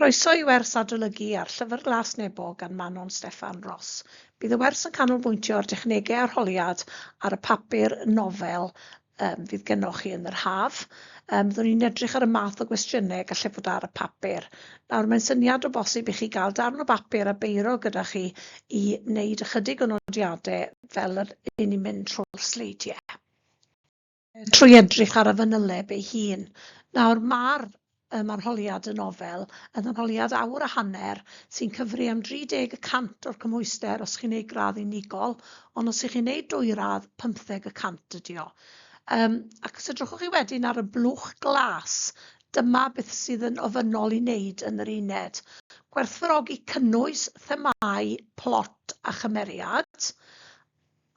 Croeso i wers Adolygu ar Llyfr Glas Nebo gan Manon Steffan Ros. Bydd y wers yn canolbwyntio ar dechnegau arholiad ar y papur nofel um, fydd gennoch chi yn yr haf. Um, byddwn ni'n edrych ar y math o gwestiynau gallai fod ar y papur. Nawr, mae'n syniad o bosib i chi gael darn o bapur a beiro gyda chi i wneud ychydig o nodiadau fel yr un ni'n mynd trwy'r sleidiau. Trwy edrych ar y fanyleb ei hun. Nawr, mae'r um, arholiad yn nofel, yn arholiad awr a hanner, sy'n cyfri am 30 y cant o'r cymhwyster os chi'n ei gradd unigol, ond os ych chi'n ei dwy radd, 50 y cant ydi o. Um, ac os edrychwch chi wedyn ar y blwch glas, dyma beth sydd yn ofynnol i wneud yn yr uned. Gwerthfawrogi cynnwys, themau, plot a chymeriad,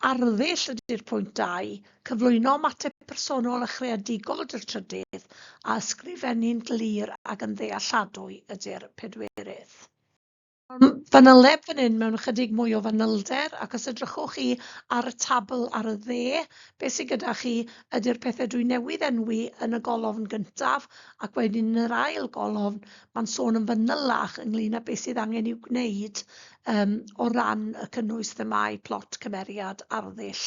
Arddull ydy'r pwynt dau, cyflwyno ymateb personol a chreadigol ydy'r trydydd, a ysgrifennu'n glir ac yn ddealladwy ydy'r pedwerydd. Mae'r fanyleb fan hyn mewn ychydig mwy o fanylder, ac os edrychwch chi ar y tabl ar y dde, beth sydd gyda chi ydy'r pethau dwi newydd enwi yn y golofn gyntaf, ac wedyn yn yr ail golofn, mae'n sôn yn fanylach ynglŷn â beth sydd angen i'w gwneud Yym, o ran y cynnwys themâu, plot, cymeriad, arddull,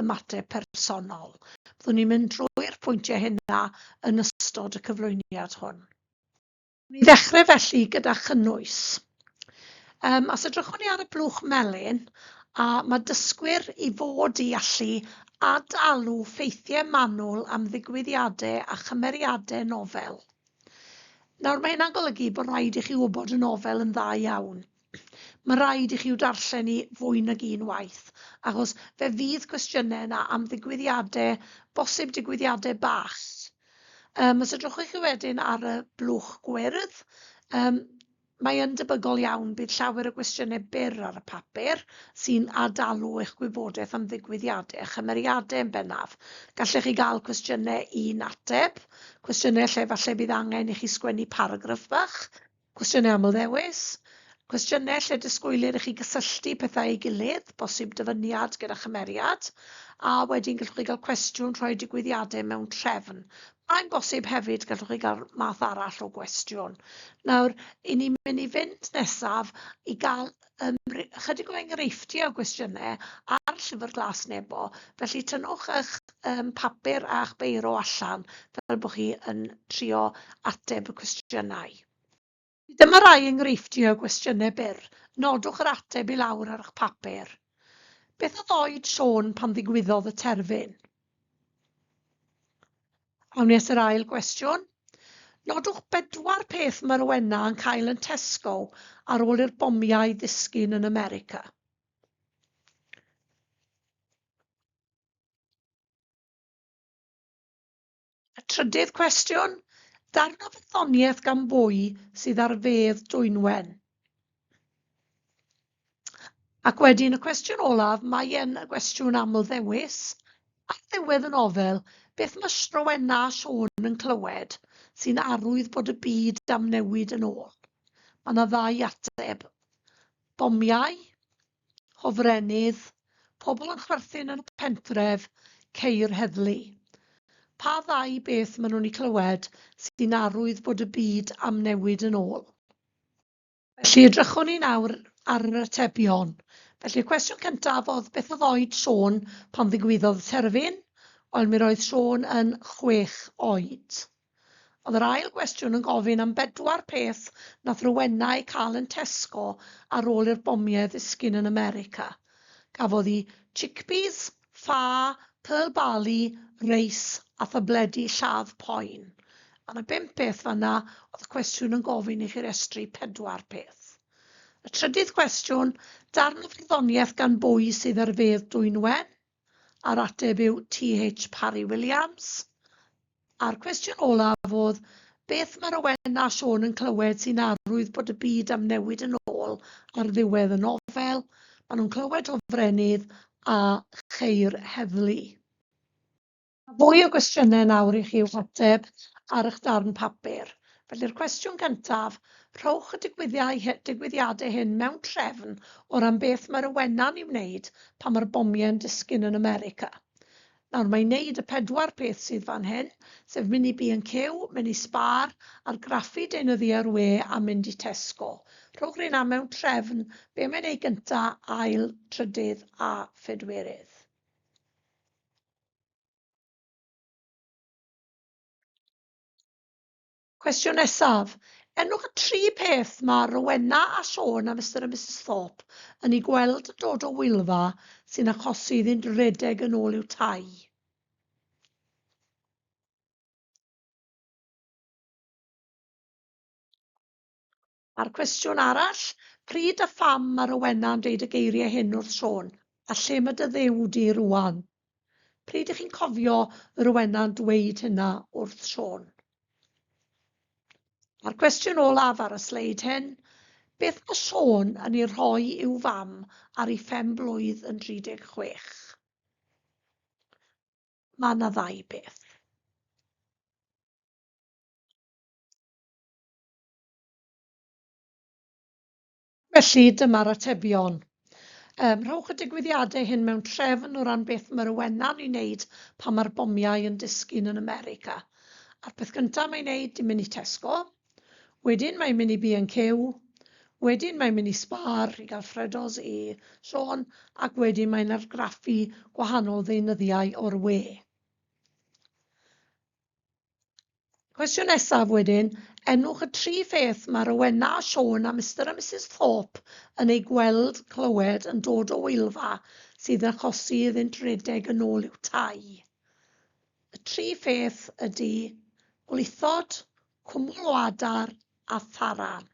ymateb personol. Fyddwn ni'n mynd drwy'r pwyntiau hynna yn ystod y cyflwyniad hwn. Wnawn ni ddechrau felly gyda chynnwys. Yym, os edrychwn ni ar y blwch melyn, a mae dysgwyr i fod i allu ad-alw ffeithiau manwl am ddigwyddiadau a chymeriadau nofel. Nawr, mae hynna'n golygu bod rhaid i chi wybod y nofel yn dda iawn. Mae rhaid i chi i'w darllen hi fwy nag un waith, achos fe fydd cwestiynau yna am ddigwyddiadau, bosib digwyddiadau bach. Um, os edrychwch chi wedyn ar y blwch gwyrdd, um, Mae yn debygol iawn bydd llawer o gwestiynau byr ar y papur sy'n ad-dalu eich gwybodaeth am ddigwyddiadau a chymeriadau yn bennaf. Gallech chi gael cwestiynau i'n ateb, cwestiynau lle efallai bydd angen i chi sgwennu paragraff bach, cwestiynau amlddewis, cwestiynau lle disgwylir i chi gysylltu pethau â'i gilydd, bosib dyfyniad gyda chymeriad, a wedyn gallwch chi gael cwestiwn rhoi digwyddiadau mewn trefn, Mae'n bosib hefyd gallwch chi gael math arall o gwestiwn. Nawr, i ni mynd i fynd nesaf i gael um, chydig o enghreifftiau o gwestiynau ar llyfr glas nebo, felly tynnwch eich um, papur a'ch beiro allan fel bod chi yn trio ateb y cwestiynau. Dyma rai enghreifftiau o gwestiynau byr, nodwch yr ateb i lawr ar eich papur. Beth oedd oed Siôn pan ddigwyddodd y terfyn? Awn ni at yr ail gwestiwn. Nodwch bedwar peth mae Rowena yn cael yn Tesco ar ôl i'r bomiau ddisgyn yn America. A trydydd cwestiwn, darn o wyddoniaeth gan bwy sydd ar fedd Dwynwen? Ac wedyn y cwestiwn olaf, mae e'n gwestiwn aml ddewis, ar ddiwedd y nofel, beth mae Rowenna a Siôn yn clywed sy'n arwydd bod y byd am newid yn ôl? Mae yna ddau ateb, bomiau hofrennydd, pobl yn chwerthin yn y pentref, ceir heddlu. Pa ddau beth maen nhw'n eu clywed sy'n arwydd bod y byd am newid yn ôl? Felly, edrychwn ni nawr ar yr atebion. Felly'r cwestiwn cyntaf oedd beth oedd oed Siôn pan ddigwyddodd y terfyn? Wel, mi roedd Siôn yn chwech oed. Oedd yr ail gwestiwn yn gofyn am bedwar peth nath Rowena eu cael yn Tesco ar ôl i'r bomiau ddisgyn yn America. Gafodd hi chickpeas, ffa, pearl barley, reis a thabledi lladd poen. Ar y bump peth fan'na oedd y cwestiwn yn gofyn i chi restru pedwar peth. Y trydydd cwestiwn, darn o farddoniaeth gan bwy sydd ar fedd Dwynwen? A'r ateb yw TH Parry Williams. A'r cwestiwn olaf oedd, beth mae Rowen a Siôn yn clywed sy'n arwydd bod y byd am newid yn ôl ar ddiwedd y nofel? Maen nhw'n clywed hofrennydd a cheir heddlu. Mae fwy o gwestiynau nawr i chi i'w hateb ar eich darn papur. Felly'r cwestiwn gyntaf, rhowch y digwyddiadau hyn mewn trefn o ran beth mae'r awenau'n ei wneud pan mae'r bomiau'n disgyn yn America. Nawr, mae'n wneud y pedwar peth sydd fan hyn, sef mynd i B&Q, mynd i Spar, argraffu deunyddiau'r we a mynd i Tesco. Rhowch rheina mewn trefn, be mae'n ei gyntaf, ail, trydydd a phedwerydd. Cwestiwn nesaf. Enwch y tri peth mae Rowena a Siôn a Mister a Misus Thorpe yn ei gweld yn dod o Wylfa sy'n achosi iddynt redeg yn ôl i'w tai. A'r cwestiwn arall, pryd a pham mae Rowena yn deud y geiriau hyn wrth Siôn, a lle mae dy Dduw di rŵan? Pryd ych chi'n cofio Rowena yn dweud hynna wrth Siôn? A'r cwestiwn olaf ar y sleid hyn, beth mae Siôn yn ei rhoi i'w fam ar ei phen blwydd yn 36? Mae yna ddau beth. Felly, dyma'r atebion. Yym, rhowch y digwyddiadau hyn mewn trefn o ran beth mae'r awenau'n ei wneud pan mae'r bomiau yn disgyn yn America. A'r peth gyntaf mae'n wneud, di'n mynd i Tesco. Wedyn mae'n mynd i B&Q. Wedyn mae'n mynd i Spar i gael ffredos i Siôn, ac wedyn mae'n argraffu gwahanol ddeunyddiau o'r we. Cwestiwn nesaf wedyn, enwch y tri pheth mae Rowena a Siôn a Mister a Misus Thorpe yn eu gweld, clywed, yn dod o Wylfa sydd yn achosi iddynt redeg yn ôl i'w tai. Y tri pheth ydy gwlithod, cwmwl o adar a tharan.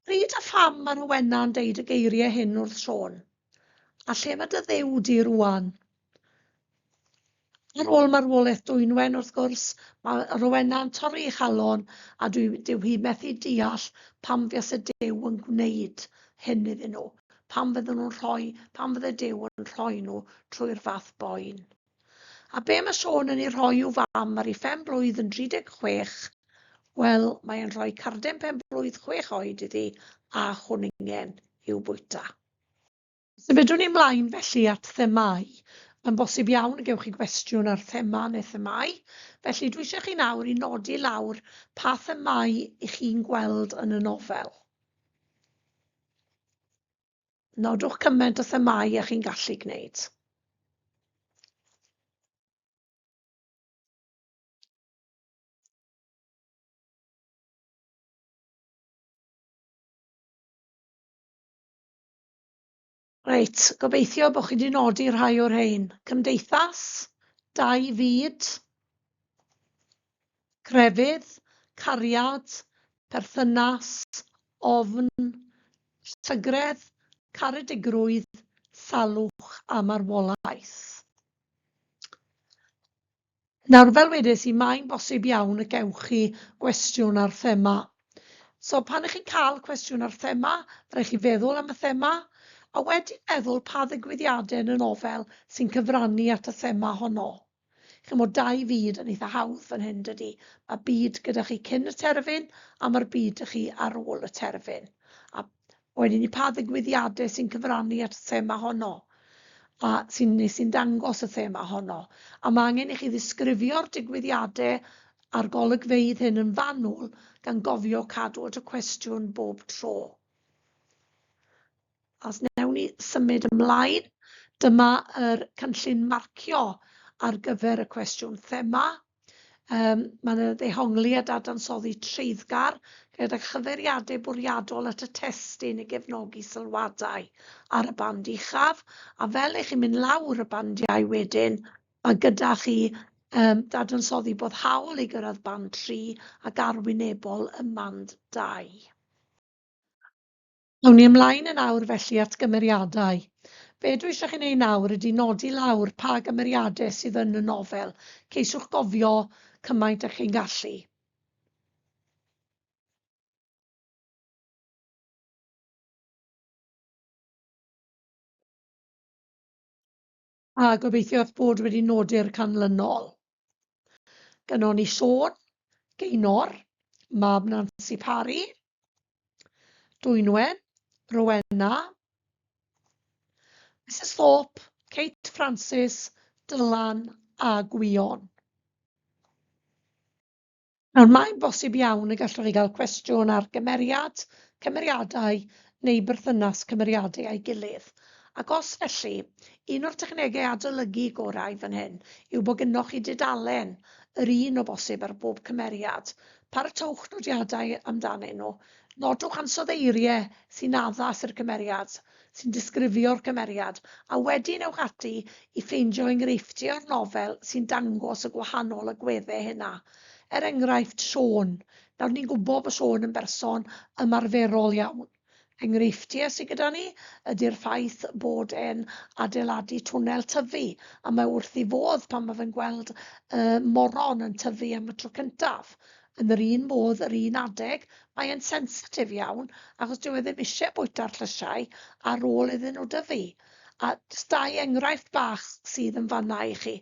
Pryd a pham mae Rowena yn deud y geiriau hyn wrth Siôn? A lle mae dy Dduw di rŵan? Ar ôl marwolaeth Dwynwen, wrth gwrs, mae Rowena yn torri ei chalon a dwi, dyw hi methu deall pam fias y Duw yn gwneud hyn iddyn nhw, pam fydden nhw'n rhoi, pam fydde Duw yn rhoi nhw trwy'r fath boen. A be mae Siôn yn ei rhoi i'w fam ar ei phen blwydd yn 36? Wel, mae e'n rhoi carden pen blwydd chwech oed iddi a chwningen i'w bwyta. Symudwn ni mlaen felly at themâu. Mae'n bosib iawn y gewch chi gwestiwn ar thema neu themâu, felly dwi eisiau chi nawr i nodi lawr pa themâu i chi'n gweld yn y nofel. Nodwch cymaint o themâu a chi'n gallu gwneud. Reit, gobeithio bod chi wedi nodi rhai o'r rhain. Cymdeithas, dau fyd. Crefydd, cariad, perthynas, ofn, llygredd, caredigrwydd, salwch a marwolaeth. Nawr, fel wedes i, mae'n bosib iawn y gewch chi gwestiwn ar thema. So, pan ych chi'n cael cwestiwn ar thema, rhaid chi feddwl am y thema, a wedyn meddwl pa ddigwyddiadau yn y nofel sy'n cyfrannu at y thema honno. Chimo dau fyd yn eitha hawdd fan hyn dydi? Mae byd gyda chi cyn y terfyn a mae'r byd da chi ar ôl y terfyn. A boen hynny pa ddigwyddiadau sy'n cyfrannu at y thema honno a sy'n neu sy'n dangos y thema honno. A mae angen i chi ddisgrifio'r digwyddiadau a'r golygfeydd hyn yn fanwl gan gofio cadw at y cwestiwn bob tro. Os wnewn ni symud ymlaen, dyma yr cynllun marcio ar gyfer y cwestiwn thema. Um, Mae'n ddehongli a dadansoddi treiddgar gyda chyfeiriadau bwriadol at y testun i gefnogi sylwadau ar y band uchaf, a fel eich chi'n mynd lawr y bandiau wedyn, mae gyda chi um, dadansoddi bod hawl i gyrraedd band 3 ac arwynebol ym mand 2. Awn ni ymlaen yn awr felly at gymeriadau. Be dwi eisiau chi wneud nawr ydy nodi lawr pa gymeriadau sydd yn y nofel. Ceisiwch gofio cymaint â chi'n gallu. A gobeithio eich bod wedi nodi'r canlynol. Gynnon ni Siôn, Geinor, mab Nansi Parry, Dwynwen, Rowena, Misus Thorpe, Kate Francis, Dylan a Gwion. Nawr, mae'n bosib iawn y gallwch chi gael cwestiwn ar gymeriad, cymeriadau neu berthynas cymeriadau â'i gilydd, ac os felly, un o'r technegau adolygu gorau fan hyn yw bod gynnoch chi dudalen, yr un o bosib ar bob cymeriad. Paratowch nodiadau amdanyn nhw. Nodwch ansoddeiriau sy'n addas i'r cymeriad. sy'n disgrifio'r cymeriad, a wedyn ewch ati i ffeindio enghreifftiau o'r nofel sy'n dangos y gwahanol agweddau hynna. Er enghraifft, Siôn. Nawr ni'n gwybod bod Siôn yn berson ymarferol iawn. Enghreifftiau sydd gyda ni ydy'r ffaith bod e'n adeiladu twnnel tyfu, a mae wrth ei fodd pan mae fe'n gweld y moron yn tyfu am y tro cyntaf. Yn yr un modd, yr un adeg, mae e'n sensitif iawn achos dyw e ddim isie bwyta'r llysiau ar ôl iddyn nhw dyfu. A jyst dau enghraifft bach sydd yn fan'na i chi.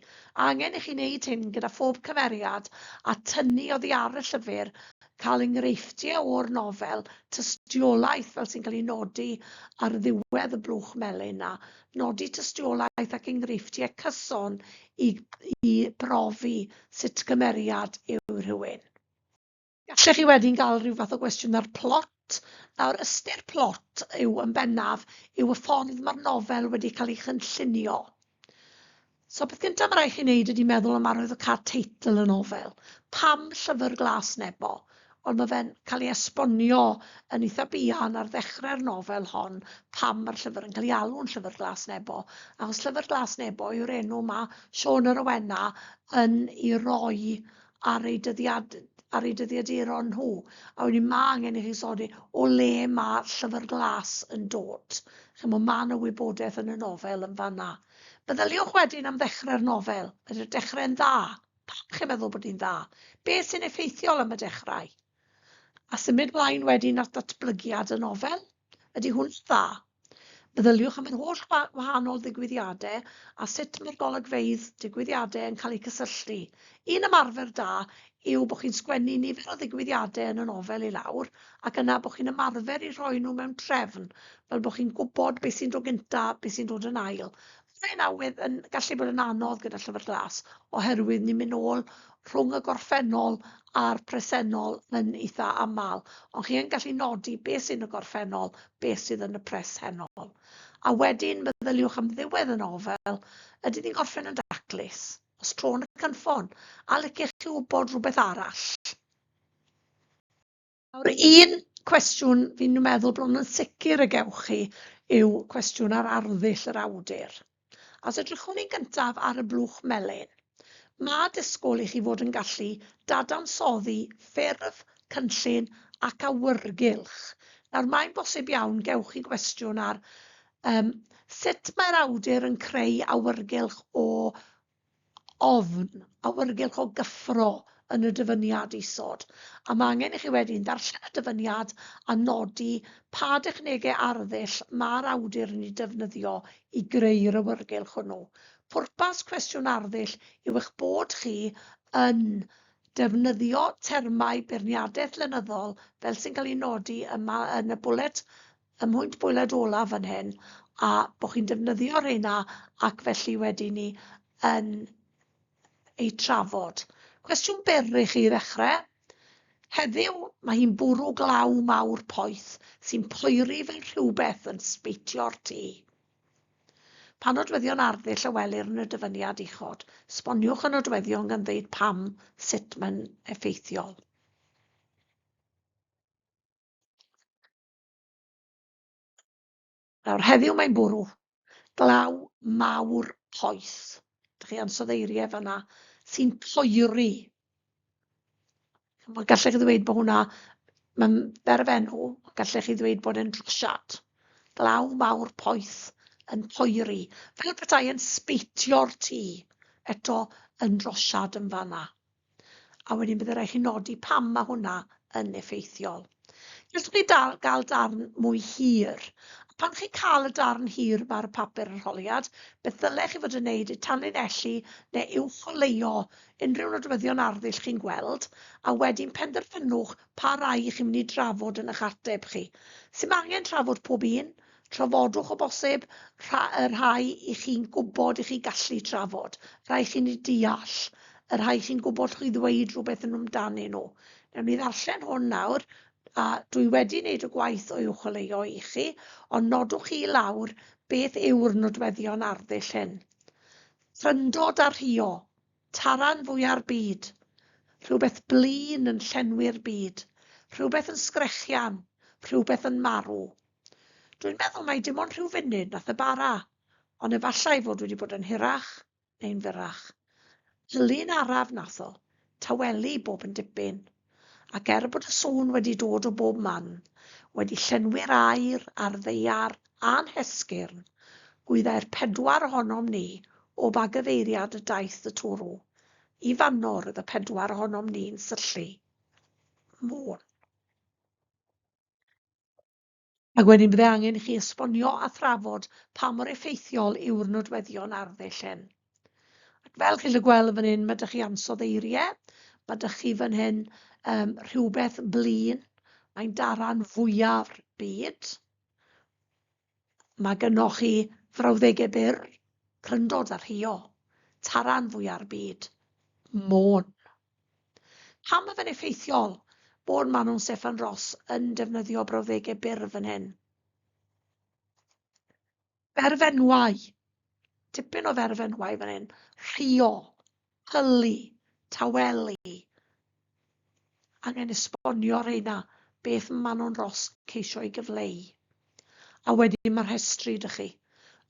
Angen i chi wneud hyn gyda phob cymeriad a tynnu oddi ar y llyfr, cael enghreifftiau o'r nofel, tystiolaeth fel sy'n cael ei nodi ar ddiwedd y blwch melyn 'na, nodi tystiolaeth ac enghreifftiau cyson i i brofi sut cymeriad yw rhywun. Gallech chi wedyn gael rhyw fath o gwestiwn ar plot. Nawr, ystyr plot yw yn bennaf yw y ffordd mae'r nofel wedi cael ei chynllunio. So peth gyntaf mae rhaid chi wneud ydy meddwl am arwyddocâd teitl y nofel. Pam Llyfr Glas Nebo? Ond mae fe'n cael ei esbonio yn eitha buan ar ddechrau'r nofel hon pam mae'r llyfr yn cael ei alw'n Llyfr Glas Nebo, achos Llyfr Glas Nebo yw'r enw mae Siôn a Rowena yn ei roi ar ei dyddiad, ar ei dyddiaduron nhw. A wedyn mae angen i chi sodi o le mae Llyfr Glas yn dod. Chimo, mae yna wybodaeth yn y nofel yn fanna. Meddyliwch wedyn am ddechrau'r nofel. Ydy'r dechrau'n dda? Pam chi'n meddwl bod hi'n dda? Be sy'n effeithiol am y dechrau? A symud mlaen wedyn at ddatblygiad y nofel? Ydy hwn dda? Meddyliwch am yr holl wahanol ddigwyddiadau a sut mae'r golygfeydd digwyddiadau yn cael eu cysylltu. Un ymarfer da yw bod chi'n sgwennu nifer o ddigwyddiadau yn y nofel i lawr ac yna bod chi'n ymarfer i rhoi nhw mewn trefn, fel bod chi'n gwybod beth sy'n dod gyntaf, beth sy'n dod yn ail. Mae'n awydd yn gallu bod yn anodd gyda Llyfr Glas oherwydd ni'n mynd nôl rhwng y gorffennol a'r presennol yn eitha aml, ond chi yn gallu nodi beth sy'n y gorffennol, beth sydd yn y presennol. A wedyn meddyliwch am ddiwedd y nofel, ydy ni'n gorffen yn daclus, os tro yn y cynffon, a liciech chi wybod rhywbeth arall? Nawr, un cwestiwn fi'n meddwl bron yn sicr y gewch chi yw cwestiwn ar arddull yr awdur. Os edrychwn ni'n gyntaf ar y blwch melyn, mae disgwyl i chi fod yn gallu dadansoddi ffurf, cynllun ac awyrgylch. Nawr, mae'n bosib iawn gewch chi gwestiwn ar um, sut mae'r awdur yn creu awyrgylch o ofn awyrgylch o gyffro yn y dyfyniad isod, a mae angen i chi wedyn ddarllen y dyfyniad a nodi pa dechnegau arddull mae'r awdur yn eu defnyddio i greu'r awyrgylch hwnnw. Pwrpas cwestiwn arddull yw eich bod chi yn defnyddio termau beirniadaeth lenyddol fel sy'n cael eu nodi yma yn y bwlet y mwynt bwyled olaf fan hyn a bod chi'n defnyddio rheina ac felly wedi ni yn eu trafod. Cwestiwn byr i chi i ddechrau. Heddiw, mae hi'n bwrw glaw mawr poeth sy'n poeri fel rhywbeth yn sbeitio'r tu. Pa nodweddion arddull a welir yn y dyfyniad uchod? Sboniwch y nodweddion gan ddeud pam, sut mae'n effeithiol. Nawr, heddiw mae'n bwrw glaw mawr poeth. Dych chi ansoddeiriau fanna sy'n poeri. Mae gallech chi ddweud bod hwnna, mae'n berfenw, gallech chi ddweud bod e'n drosiad. Glaw mawr poeth yn poeri, fel petai yn sbeitio'r tŷ, eto yn drosiad yn fanna. A wedyn byddai rhaid chi nodi pam mae hwnna yn effeithiol. Jyst i chi dal, gael darn mwy hir. A pan chi'n cael y darn hir yma ar y papur arholiad, beth ddylech chi fod yn wneud yw tanlinellu neu uwcholeuo unrhyw nodweddion arddull chi'n gweld, a wedyn penderfynwch pa rai chi'n mynd i drafod yn eich ateb chi. Sdim angen trafod pob un, Trafodwch o bosib rha- y rhai i chi'n gwybod i chi gallu trafod, rhai chi'n eu deall, y rhai chi'n gwybod chi ddweud rhywbeth yn amdanyn nhw. Newn ni ddarllen hwn nawr, a dwi wedi wneud y gwaith o'i chwilio i chi, ond nodwch i lawr beth yw'r nodweddion arddull hyn. Thrindod a rhio, Taran fwya'r byd. Rhywbeth blin yn llenwi'r byd. Rhywbeth yn sgrechian. Rhywbeth yn marw. Dwi'n meddwl mai dim ond rhyw funud nath e bara, ond efallai fod wedi bod yn hirach neu'n fyrrach. Llun araf nath o, tawelu bob yn dipyn. Ac er bod y sŵn wedi dod o bob man, wedi llenwi'r aer a'r ddaear a'n hesgyrn, gwyddai'r pedwar ohonom ni o ba gyfeiriad y daeth y twrw. I fan'no roedd y pedwar ohonom ni'n syllu. Môn. Ac wedyn byddai angen i chi esbonio a thrafod pa mor effeithiol yw'r nodweddion arddull hyn. Ac fel chi'n gallu gweld yn fan hyn, mae dych chi ansoddeiriau, eiriau, mae dych chi fan hyn um, rhywbeth blin, mae'n daran fwyaf byd. Mae gynnwch chi frawddegau byr, cryndod a rhio, taran fwyaf byd, môn. Pam mae fe'n effeithiol bod Manon Steffan Ros yn defnyddio brawddegau byr fan hyn? Berfenwau. Tipyn o ferfenwau fan hyn. Rhio, hylu, tawelu. Angen esbonio rheina beth mae Manon Ros ceisio ei gyfleu. A wedyn mae rhestri dych chi.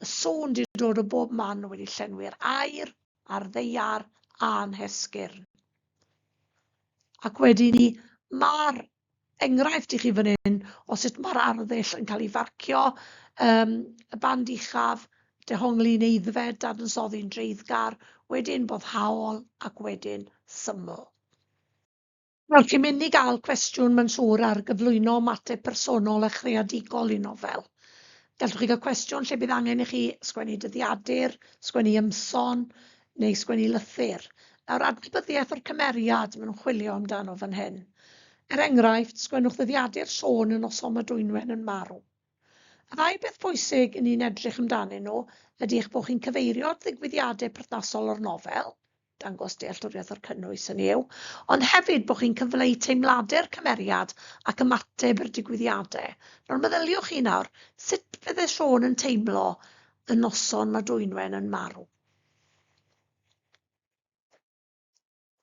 Y sŵn di dod o bob man wedi llenwi'r air. a'r ddaear a'n hesgyrn. Ac wedi ni, mae'r enghraifft i chi fan hyn o sut mae'r arddull yn cael ei farcio, um, y band uchaf, dehongli yn eiddfed, dadansoddi'n dreiddgar, wedyn boddhaol ac wedyn syml. Wel, chi'n mynd i gael cwestiwn, mae'n siŵr, ar gyflwyno ymateb personol a chreadigol i nofel. Gallwch chi gael cwestiwn lle bydd angen i chi sgwennu dyddiadur, sgwennu ymson, neu sgwennu lythyr. Nawr, adnabyddiaeth o'r cymeriad maen nhw'n chwilio amdano fan hyn. Er enghraifft, sgwennwch ddyddiadur Siôn y noson mae Dwynwen yn marw. Y ddau beth pwysig i ni'n edrych amdanyn nhw ydy eich bod chi'n cyfeirio at ddigwyddiadau perthnasol o'r nofel, dangos dealltwriaeth o'r cynnwys, hynny yw, ond hefyd bod chi'n cyfleu teimladau'r cymeriad ac ymateb i'r digwyddiadau. Nawr meddyliwch chi nawr, sut fydde Siôn yn teimlo y noson mae Dwynwen yn marw?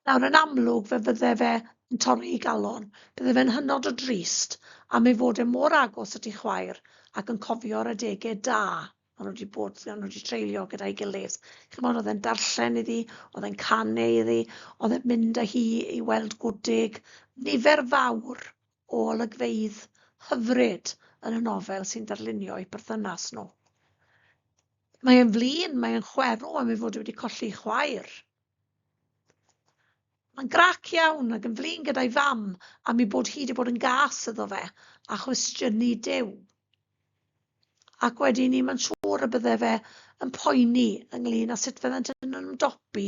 Nawr, yn amlwg, fe fydde fe yn torri ei galon. Bydde fe'n hynod o drist am ei fod e mor agos at ei chwaer ac yn cofio'r adegau da Maen nhw wedi bod, maen nhw wedi treulio gyda'i gilydd. Chymod, oedd e'n darllen iddi, oedd e'n canu iddi, oedd e'n mynd â hi i weld gwdig. Nifer fawr o olygfeydd hyfryd yn y nofel sy'n darlunio eu perthynas nhw. Mae e'n flin, mae e'n chwerw am ei fod wedi colli chwaer. Mae'n grac iawn ac yn flin gyda'i fam am ei bod hi wedi bod yn gas iddo fe a chwestiynu Duw. Ac wedyn ni, mae'n siŵr y bydde fe yn poeni ynglyn â sut fyddant yn ymdopi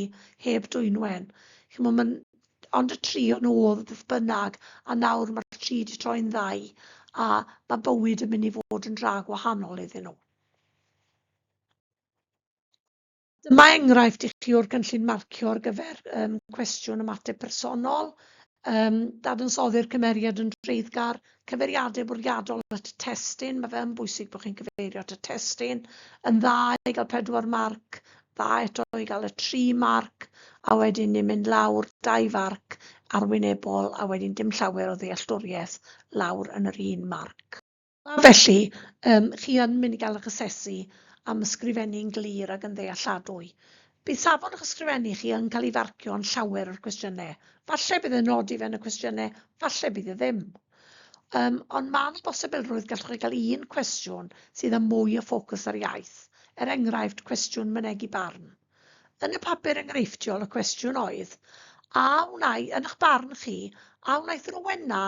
heb Dwynwen. Chimo, mae'n ond y tri o'n oedd beth bynnag, a nawr mae'r tri wedi troi'n ddau, a mae bywyd yn mynd i fod yn dra gwahanol iddyn nhw. Dyma enghraifft i chi o'r cynllun marcio ar gyfer um, cwestiwn ymateb personol, um, dadansoddi'r cymeriad yn dreiddgar, cyfeiriadau bwriadol at y testyn, mae fe yn bwysig bod chi'n cyfeirio at y testyn, yn dda i gael pedwar marc, dda eto i gael y tri marc, a wedyn ni'n mynd lawr dau farc arwynebol, a wedyn dim llawer o ddealltwriaeth lawr yn yr un marc. A felly, yym, chi yn mynd i gael eich asesu am ysgrifennu'n glir ac yn ddealladwy. Bydd safon eich ysgrifennu chi yn cael ei farcio yn llawer o'r cwestiynau. Falle bydd e'n nodi fe yn y cwestiynau, falle bydd e ddim. Um, ond mae yna bosibilrwydd gallwch chi gael un cwestiwn sydd â mwy o ffocws ar iaith, er enghraifft cwestiwn mynegi barn. Yn y papur enghreifftiol y cwestiwn oedd, a wnai, yn eich barn chi, a wnaeth Rowena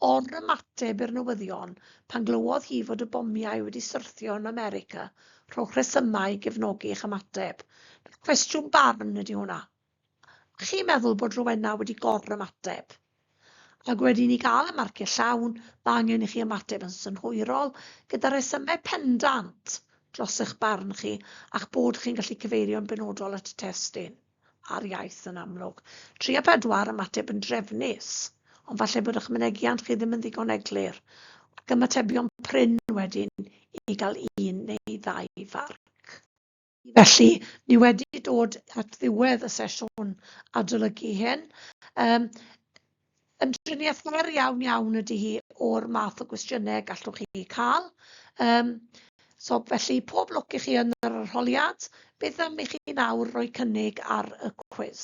Yn ymateb i'r newyddion, pan glywodd hi fod y bomiau wedi syrthio yn America, rhowch resymau i gefnogi eich ymateb. Cwestiwn barn ydy hwnna. A chi'n meddwl bod Rowena wedi gor-ymateb? Ac wedi i ni gael y marciau llawn, mae angen i chi ymateb yn synhwyrol, gyda rhesymau pendant dros eich barn chi a'ch bod chi'n gallu cyfeirio'n benodol at y testun. ar iaith yn amlwg. Tri a phedwar am ateb yn drefnus, ond falle bod eich mynegiant chi ddim yn ddigon eglur, ac ymatebion prin wedyn i gael un neu ddau farc. Felly, ni wedi dod at ddiwedd y sesiwn adolygu hyn. Yym. Yn driniaeth fer iawn iawn ydy hi o'r math o gwestiynau gallwch chi cael. Um, so felly pob lwc i chi yn yr arholiad. Beth am i chi nawr roi cynnig ar y cwis?